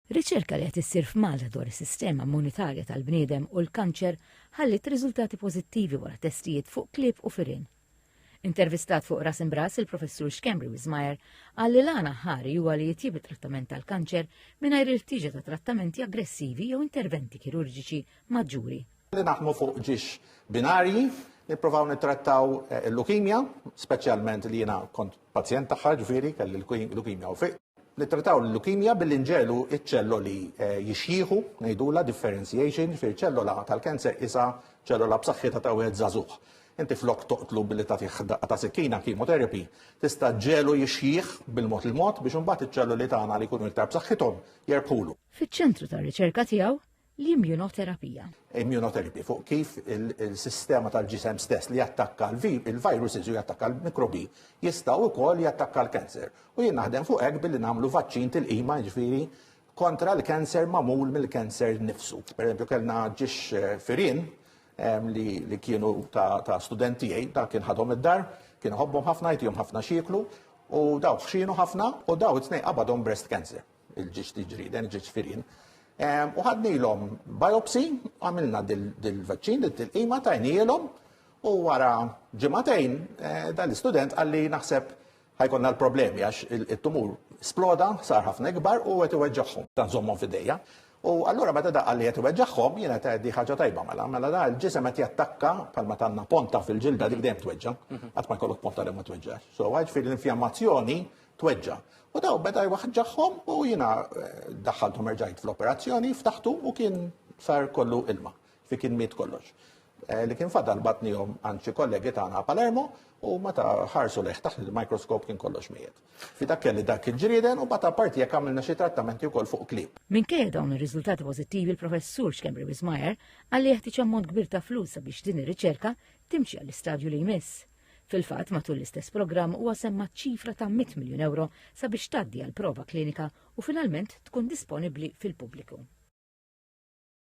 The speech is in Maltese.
Riċerka li qed issir f'Malta dwar is-sistema immunitarja tal-bniedem u l-kanċer ħalliet riżultati pożittivi wara testijiet fuq klieb u firien. Intervistat fuq Ras Imbras il-Professur Schembri Wismajer qal li l-għana ħari huwa li jitjieb it-trattament tal-kanċer mingħajr il-ħtieġa ta' trattamenti aggressivi jew interventi kirurġiċi maġġuri. Li naħdmu fuq ġiex binarji, nipprovaw nittrattaw eh, il-lukimja, speċjalment li jiena kont pazjent tagħha ġifieri kelli l-lukimja u fiq. Nittrattaw l-leukemia billi nġelu iċ-ċelloli eh, jixjieħu, ngħidula differentiation, fir ċellola tal-kanser isa ċellola b'saħħitha ta' wieħed żagħżugħ. Inti flok toqtlu billi ta' tiħdaq ta' sikkina chemotherapy, tista' ġelu jixjieħ bil-mod il-mod biex imbagħad iċ-ċelloli tagħna li jkunu iktar b'saħħithom jerbħulu. Fiċ-ċentru tar-riċerka tiegħu, l-immunoterapija. Immunoterapija fuq kif il-sistema tal-ġisem stess li jattakka l-virus iżu jattakka l-mikrobi jista' wkoll jattakka l-kanser. U jien naħdem fuq hekk billi nagħmlu vaċċin tilqima ġifieri kontra l-kanser magħmul mill-kanser nifsu. Pereżempju kellna ġiex eh, firin ehm, li kienu ta' studenti għaj, dak kien ħadhom id-dar, kien ħobbhom ħafna jtihom ħafna xieklu u daw xinu ħafna u daw it-tnej qabadhom breast cancer. il-ġiġ tiġriden, il-ġiġ firin. U ħadnilhom biopsi, għamilna dil-vaċċin, dil-tilqima tajnielhom u wara ġimatejn eh, dan l-istudent għalli naħseb ħajkonna l-problemi għax il-tumur sploda, sar ħafna ikbar u għet iweġġaħħom, dan zommon fidejja. U allura meta da għalli għet iweġġaħħom, jena ta' di ħagġa tajba mela, mela da l-ġisem għet jattakka palma tanna ponta fil-ġilda dik dejjem tweġġa, mhm. għat ma jkollok ponta li ma tweġġax. So għagħi fil-infjammazzjoni tweġġa'. U daw beda jwaħġaħhom u jiena daħħalthom erġajt fl-operazzjoni, ftaħtu u kien sar kollu ilma. Fi kien miet kollox. Eh, li kien fadal batnihom għand xi kollegi tagħna Palermo u meta ħarsu leħ taħt il-mikroskop kien kollox mijiet. Fi dak kelli dak il-ġrieden u bata parti jekk għamilna xi trattamenti wkoll fuq klib. Minkejja dawn ir-riżultati pożittivi l-professur Xkembri Wismajer għalli jeħtieġ ammont kbir ta' flus sabiex din ir-riċerka timxi għall-istadju li jmiss. Fil-fatt, matul l-istess programm huwa semma ċifra ta' 100 miljun euro sabiex tgħaddi għal prova klinika u finalment tkun disponibbli fil-pubbliku.